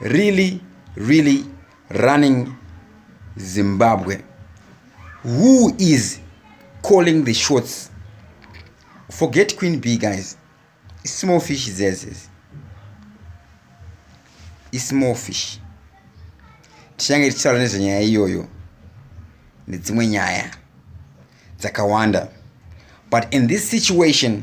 really really running zimbabwe who is calling the shots forget queen b guys small fish zezes ismall fish tichange tichitaura nezvenyaya iyoyo nedzimwe nyaya dzakawanda but in this situation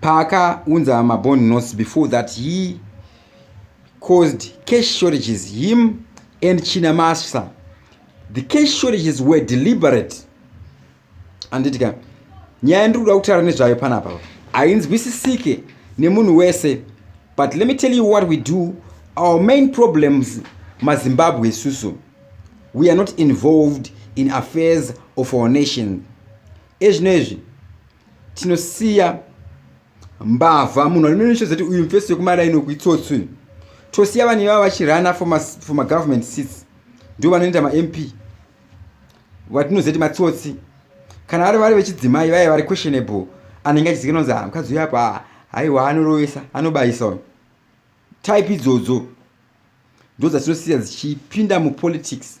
paakaunza mabond notes before that he caused cash shortages him and china masa the cash shortages were deliberate anditika nyaya ndiri kuda kutaura nezvayo panapa hainzwisisike nemunhu wese but let me tell you what we do our main problems mazimbabwe isusu we are not involved in affairs of our nation ezvino izvi tinosiya mbavha munhu anonoshedzati uyu mfesi wekumaraini wekuitsotsi uyu tosiya vanhu ivava vachirana for magovernment seats ndo vanoenda mamp vatinozati matsotsi kana vari vari vechidzimai vaye vari questionable anenge achizikana kunzi ah, mukadzi uyo apa haiwa anorovesa anobayisa uyu type idzodzo ndo dzatinosiya dzichipinda mupolitics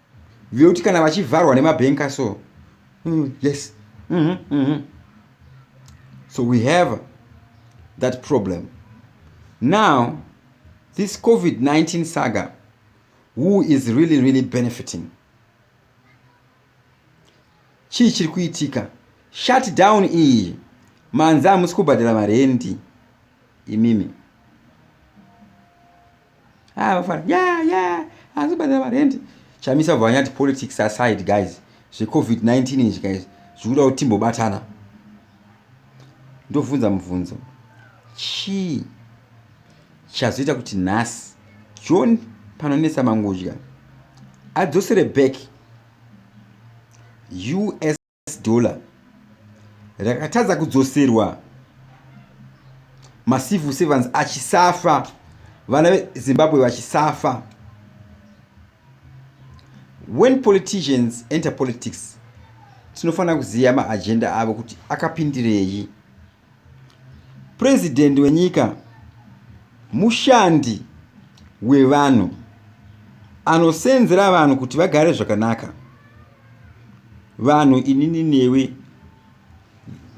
vekuti kana vachivharwa nemabhenka so mm, yes mm -hmm, mm -hmm. so we have that problem now this covid-19 saga who is really really benefiting chii chiri kuitika shut down iyi manzi hamusi kubhadhara marendi imimi ah vafana yeah yeah asi badala marendi chamisa vanyati politics aside guys zvecovid 19 izvi guys zvikuda kuti timbobatana ndovhunza mubvunzo chii chazoita kuti nhasi john panonetsa mangudya adzosere back us US dollar rakatadza kudzoserwa macivil servants achisafa vana vezimbabwe vachisafa when politicians enter politics tinofanira kuziva maagenda avo kuti akapindirei President wenyika mushandi wevanhu anosenzera vanhu kuti vagare zvakanaka vanhu inini newe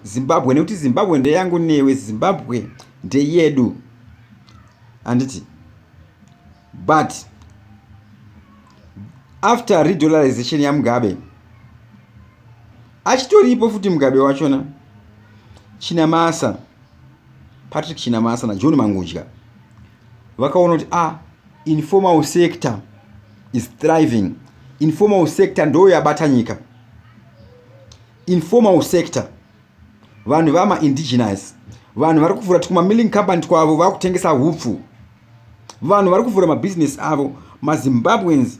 zimbabwe nekuti zimbabwe ndeyangu newe zimbabwe ndeyedu handiti but after redollarization yamugabe achitoripo futi mugabe wachona chinamasa patrick chinamasa najohn mangudya vakaona kuti a ah, informal sector is thriving informal sector ndo yabata nyika informal sector vanhu vama indigenous vanhu vari kuvhura tikuma milling company twavo vari kutengesa hupfu vanhu vari kuvhura mabusiness avo mazimbabweans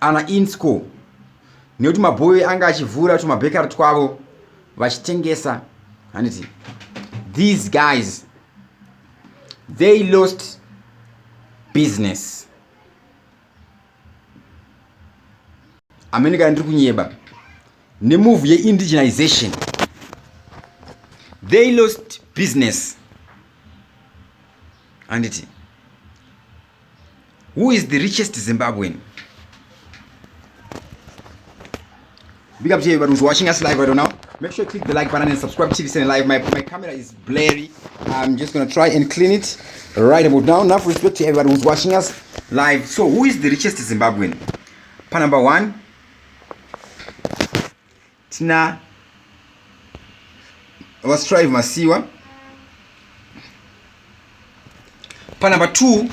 ana insco nekuti mabhoyo anga achivhura tumabhekari twavo vachitengesa handiti these guys they lost business amene kana ndiri kunyeba nemove yeindigenization they lost business handiti who is the richest zimbabwean big up to everybody who's watching us live right now make sure you click the like button and subscribe to tvcn live my, my camera is blurry i'm just gonna try and clean it right about now enough respect to everybody who's watching us live so who is the richest zimbabwean pa number one tina vastrive masiwa panumber 2 uh,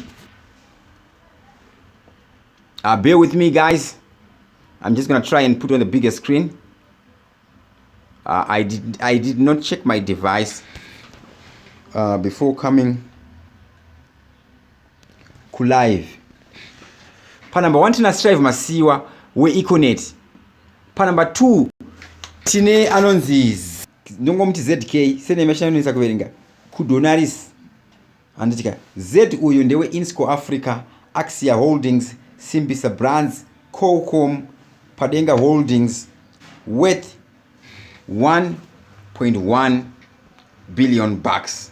ah, bear with me guys i'm just gonna try and put on the bigger screen uh, i did i did not check my device uh, before coming kulive panumber one tina strive masiwa weeconet panumber 2 tine anonzi ndongomuti zk senema chinanonisa kuverenga kudonaris handitika z uyu ndewe insco africa axia holdings simbisa brands cocom padenga holdings worth 1.1 billion bucks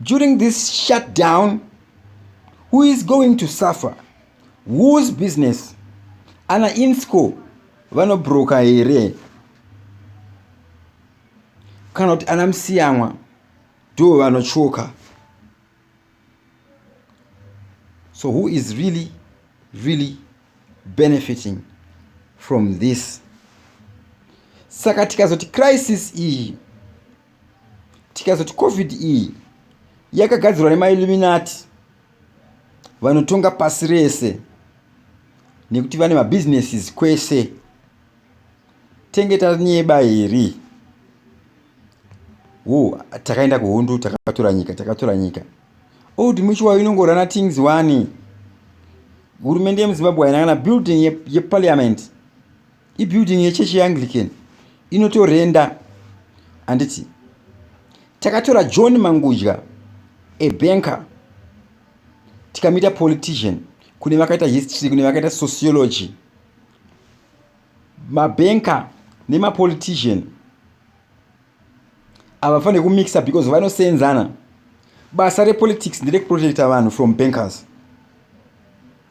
during this shutdown who is going to suffer whose business ana insco vanobroka here kana kuti ana musiyamwa ndo vanotsvoka so who is really really benefiting from this saka tikazoti crisis iyi tikazoti covid iyi yakagadzirwa nemailluminati vanotonga pasi rese nekuti vane mabusinesses kwese tenge tanyeba here wo takaenda kuhundu takatora nyika takatora nyika old oh, muchiwayo inongorana things wani hurumende yemuzimbabwe haina kana building yeparliament ye ibuilding yechechi yeanglican inotorenda handiti takatora john mangudya ebanker tikamita politician kune vakaita history kune vakaita sociology mabanker nemapolitician havafanire kumixa because vanoseenzana basa repolitics nderekuprotecta vanhu from bankers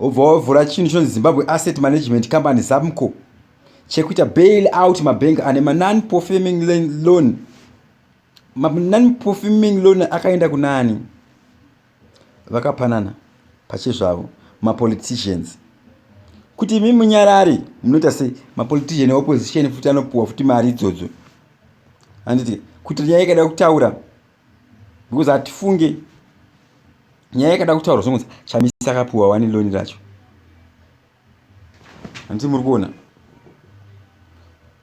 obva wavhura chinhu chonzi zimbabwe asset management company zamco chekuita bail out mabank ane manon performing loan manon performing loan akaenda kunani vakapanana pachezvavo mapoliticians kuti imi munyarari munoita sei mapolitician eopposition futi anopuwa futi mari idzodzo handiti kuti nyaya ikada kutaura because hatifunge nyaya yakada kutaurwa zvongonzi chamisa akapiwa wani loni racho handiti muri kuona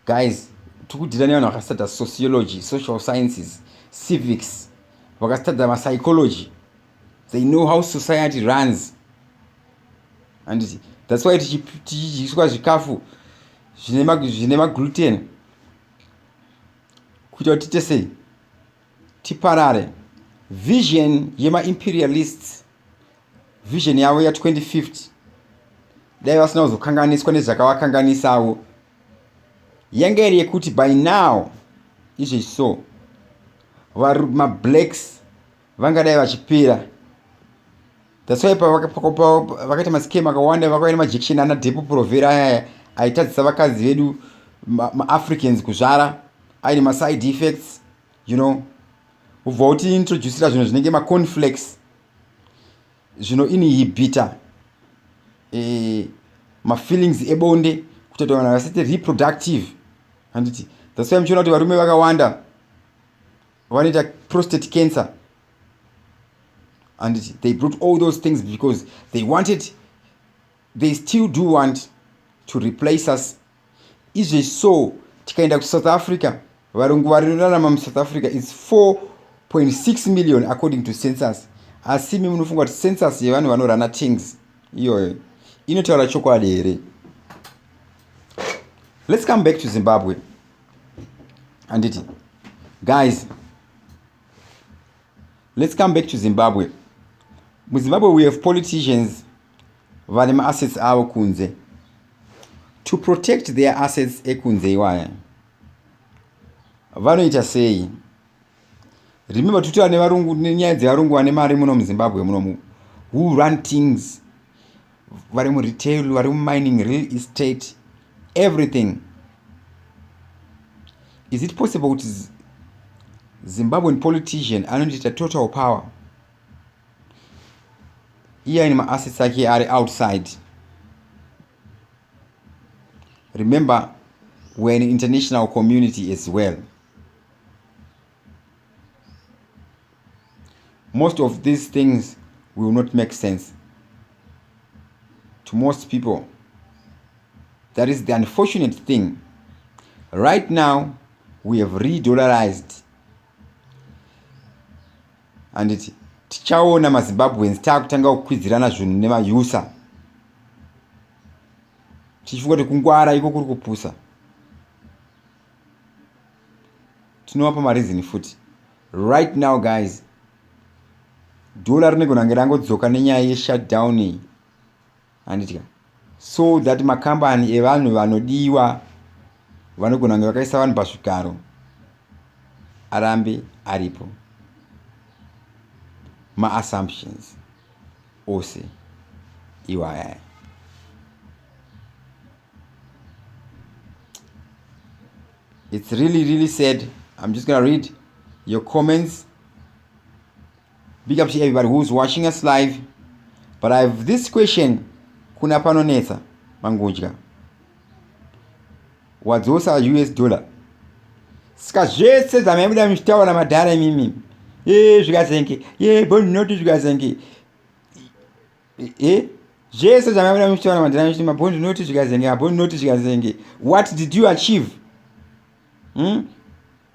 guys tikudhira nevanhu vakasitadza sociology social sciences civics vakasitadza mapsychology they know how society runs handiti thats why tichidyiswa zvikafu zvine magluten kuitira kuti tese tiparare vision yemaimperialists vision yavo ya 2050 dai vasina kuzokanganiswa nezvakavakanganisawo yanga iri yekuti by now izvi so mablacks vangadai vachipera that's why pavakaita mascam akawanda vakauya nemajection ana depo provera ayaya aitadzisa vakadzi vedu maafricans ma kuzvara aine maside effects you know ubva uti introducira zvinhu zvinenge maconflex zvino ini hibita e, eh, mafeelings ebonde kutoita vanhu vasati reproductive handiti that's why muchiona kuti varume vakawanda vanoita prostate cancer and they brought all those things because they wanted they still do want to replace us izvezvi so tikaenda kusouth africa varungu varirarama musouth africa is 4.6 million according to census asi mi munofunga kuti census yevanhu vanorana tings iyoyo inotaura chokwadi here let's come back to zimbabwe handiti guys let's come back to zimbabwe muzimbabwe we have politicians vane maassets avo kunze to protect their assets ekunze iwaya vanoita sei remember toti vane varungu nenyaya dzevarungu vane mari muno muzimbabwe munomu who run things vari muretail vari mumining real estate everything is it possible kuti zimbabwean politician anondiita total power iye aine maassets ake ari outside remember weare an international community as well most of these things will not make sense to most people that is the unfortunate thing right now we have redollarized and it tichaona mazimbabweans taakutanga kukwidzirana zvinhu nemayusa tichifunga kuti kungwara iko kuri kupusa tinovapa mareason futi right now guys dhola rinogona kunge rangodzoka nenyaya yeshutdown iyi handitya so that makambani evanhu vanodiwa vanogona kunge vakaisa vanhu pazvigaro arambe aripo maassumptions ose iwayaya it's really really sad i'm just gonna read your comments big up to everybody who's watching us live but i have this question kuna panonetsa mangudya wadzosa us dollar saka zvese zvamaibuda muchitaura namadhara imimi e zvikazenge ye bonoti zvikazenge eh zvese zvamamira muchitaura mandira muchiti mabhondi noti zvikazenge mabhondi noti zvikazenge what did you achieve hmm?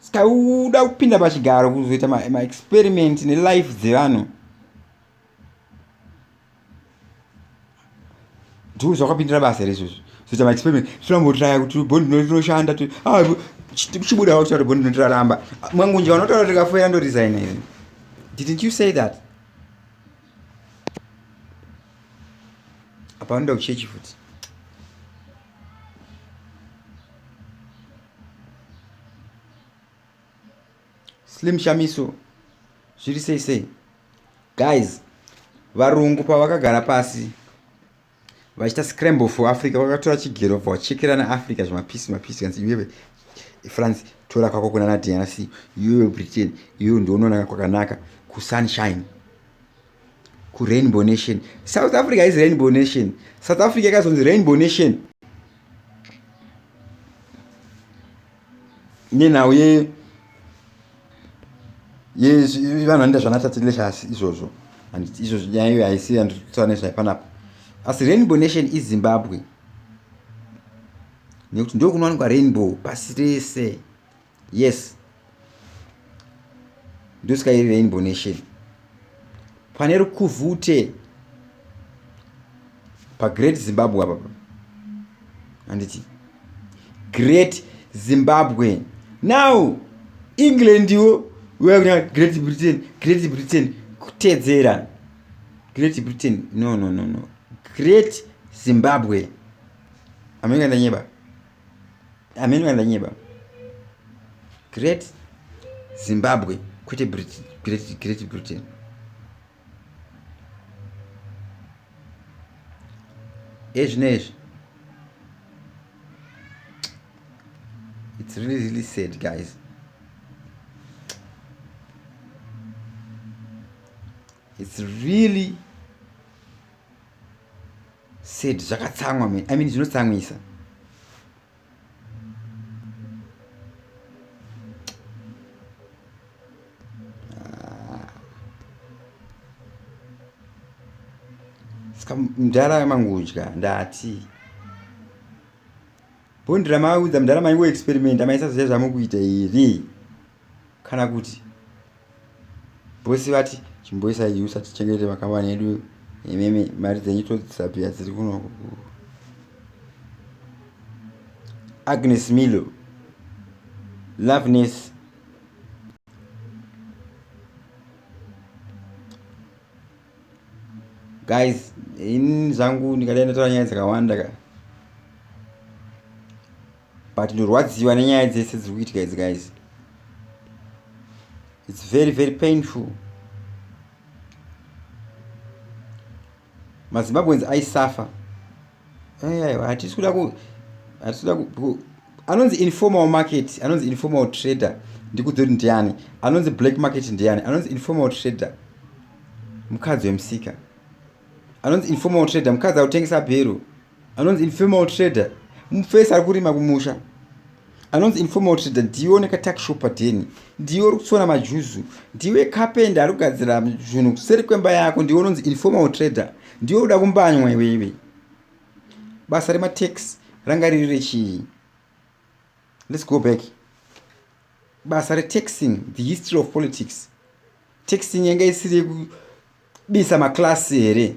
ska uda kupinda pachigaro kuzoita maexperiment ma nelife dzevanhu ndiwo zvakapindira basa here izvozvo zoita maexperiment tirambotiraya kuti bondi noti rinoshanda chibudawo kuti tati bondi noti raramba mwangunja vanotaura kuti rikafoira ndoresigna here didn't you say that apa vanoda kuchechi futi slim shamiso zviri sei sei guys varungu pavakagara pasi vachiita scramble for africa vakatora chigero vobva vachekerana africa zvemapisi mapisi kanzi iwewe france tora kwako kuna na drc iwewe britain iwewe ndionoona kwakanaka kusunshine kurainbow nation south africa is rainbow nation south africa yakazonzi rainbow nation nenhau ye yevanhu vanoenda zvanatatileshasi izvozvo and izvozvo nyaya iyo haisi yanditaura nezvayo panapa asi rainbow nation izimbabwe nekuti ndo kunowanikwa rainbow pasi rese yes ndosika iri rainbow nation pane rukuvhute pagreat zimbabwe apa handiti great zimbabwe now england wo wekuta great britain great britain kutedzera great britain no no no no great zimbabwe amene kandanyeba amene vandanyeba great zimbabwe kwete great britain ezvino ezvi it's really really sad guys it's really Said zvakatsamwa man. I mean zvinotsamwisa. Ska mdara yamangudya ndati. Bondira maudza mdara mangu experiment amaisa zvezvamukuita here? kana kuti bosi vati chimboisa iyi usati chengete vakawani yedu imimi mari dzenyu todzisabhiya dziri kuno agnes milo loveness guys ini zvangu ndikadai ndataura nyaya dzakawanda ka but ndorwadziwa nenyaya dzese dziri kuitika idzi guys its very very painful mazimbabweans aisuffer aiwa hatisi kuda ku hatisi kuda ku anonzi informal market anonzi informal trader ndikudzoti ndiani anonzi black market ndiani anonzi informal trader mukadzi wemusika anonzi informal trader mukadzi akutengesa bhero anonzi informal trader mufesi ari kurima kumusha anonzi informal trader ndiwe une katakishopa deni ndiwe uri kutsona majuzu ndiwe kapenda ari kugadzira zvinhu kuseri kwemba yako ndiwe unonzi informal trader ndiwe uda kumbanywa iweiwe basa rematex ranga riri rechii let's go back basa retaxing the history of politics taxing yanga isiri yekubisa maklasi here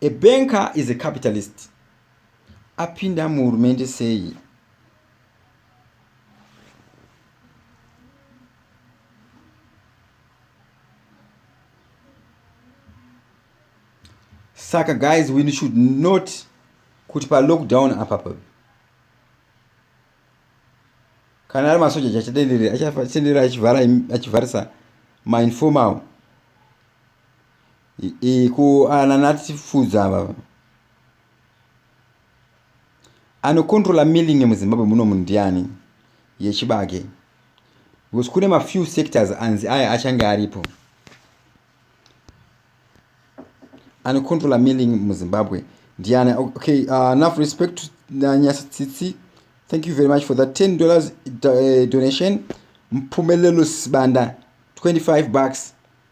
A banker is a capitalist. Apinda muhurumende sei? Saka guys we should not kuti pa lockdown apa pa kana ari masoja chachatenderera achatenderera achivhara achivharisa mainformal kuananatifudza ava anocontrola milling muzimbabwe muno munhu ndiani yechibage because kune mafew sectors anzi aya achange aripo anocontrola milling muzimbabwe ndiani okay uh, enough respect to nanyasa tsitsi thank you very much for that 10 dollars uh, donation mpumelelo sibanda 25 bucks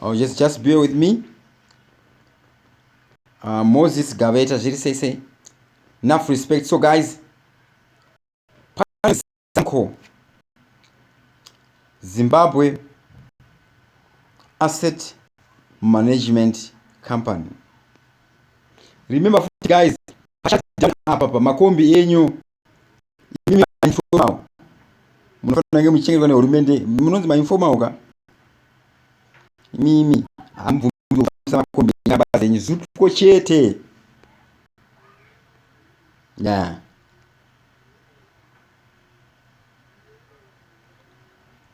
Oh, just, just bear with me. Uh, Moses Gaveta, zviri sei sei. Enough respect. So guys, Sanko, Zimbabwe Asset Management Company. Remember guys, apa pamakombi enyu imi mainformal munofanira kunge muchichengetwa nehurumende munonzi mainformal ka imimi hamubvumisa makombi enyaya basa renyu zupko chete ya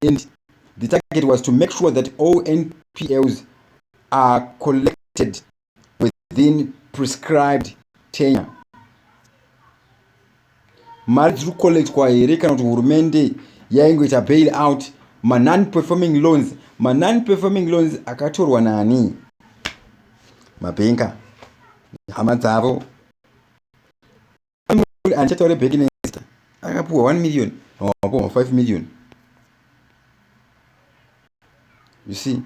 and the target was to make sure that all npls are collected within prescribed tenure mari dziri kucollectwa here kana kuti hurumende yaingoita bail out manon performing loans manon performing loans akatorwa nani mabhenka hama dzavo andichataure back nesta akapuwa one million wapuwa five million you see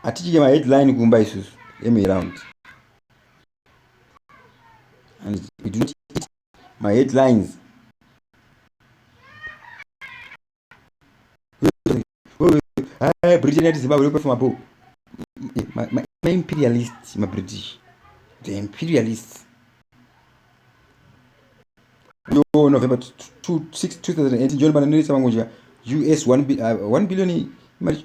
hatichike maheadline kumba isusu emaround and we do not eat maheadlines Hey, Britain yati Zimbabwe yekupa mabhuku maimperialist mabritish the imperialist yo november 2018 john bananirisa vangonja us 1 uh, billion imari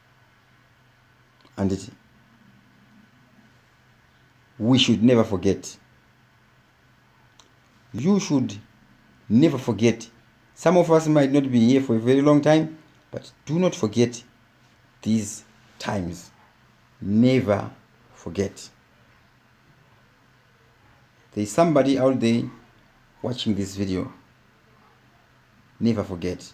handiti we should never forget you should never forget some of us might not be here for a very long time but do not forget these times never forget there is somebody out there watching this video never forget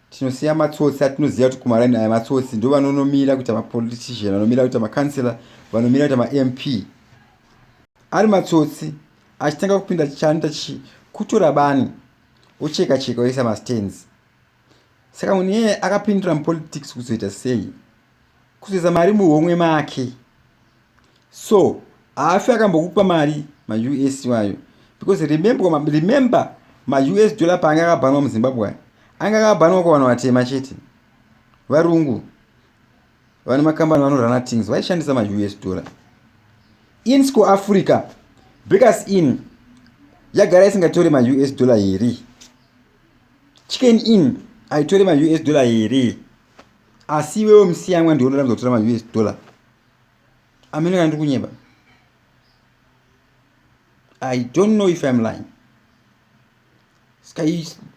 tinosiya matsotsi atinoziva kuti kumaraini aya matsotsi ndo vanonomira kuita mapolitician vanomira kuita macouncelor vanomira kuita mamp ari matsotsi achitanga kupinda chanoita chi kutora bani ocheka cheka oisa mastands saka munhu iyeye akapindira mupolitics kuzoita sei kuzoisa mari muhomwe make so haafi akambokupa mari maus wayo because remember, remember maus dollar paanga akabhanwa muzimbabwe ayo anga akabhanwa kwavanhu vatema chete varungu vane makambani vanorana things vaishandisa maus dollar in sco africa breakers in yagara isingatore maus dollar here chicken in aitore maus dollar here asi iwewe musiyanwa ndiwe unoramidza kutora maus dollar amene kana ndiri kunyeba i don't know if im lying ska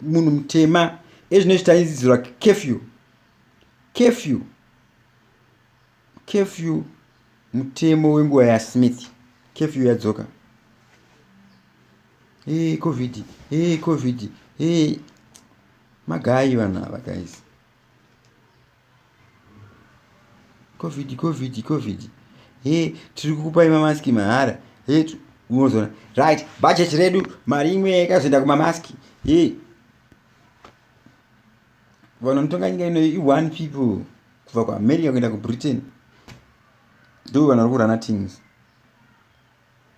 munhu mutema ezvino zvitaizizirwa kefew kefew kefew mutemo wenguva yasmith kefew yadzoka e covid e covid e magayi vanhu ava guys covid covid covid he tiri kukupai mamaski mahara he unozoona right budget redu mari imwe yakazoenda kumamaski he vanhu vanotonga nyika ino i-one people kubva kuamerica kuenda kubritain ndo vanhu vari kurana tings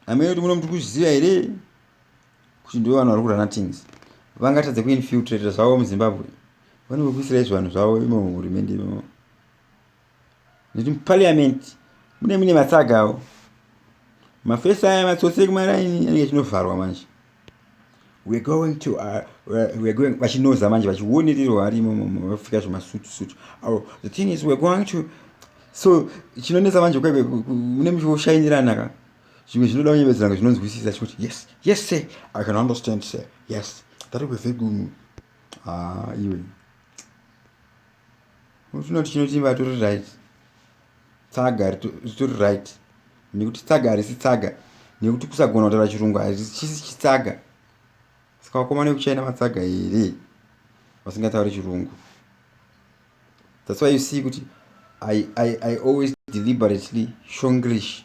hamene kuti muno mutikuzviziva here kuti ndivo vanhu vari kurana things vangatadze kuinfiltrata zvavo muzimbabwe vanenge kuisira izvo vanhu zvavo imo muhurumende imomo nekuti muparliament mune mune matsaga avo mafesi aya matsotsi ekumaraini anenge achinovharwa manje we're going to uh, we're going vachinoza manje vachionererwa varimo vapfeka zvemasutu sutu avo the thing is we're going to so chinonetsa manje kwaive mune muchioshainirana ka zvimwe zvinoda kunyevedzeranga zvinonzwisisa chikuti yes yes sir i can understand sir yes that will be very good ah iwe unotoona tichinoti vatori right tsaga ritori right nekuti tsaga harisi tsaga nekuti kusagona kutaura chirungu hachisi chitsaga saka vakomana vekuchina matsaga here vasingatauri chirungu that's why you see kuti I, I, I always deliberately shonglish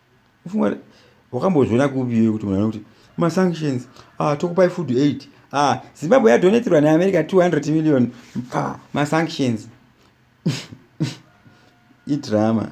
ufunga wakambozviona kupi iwe kuti munhu anokuti masanctions ah, tokupai food aid ah, zimbabwe yadoneterwa neamerica 200 million pa masanctions idrama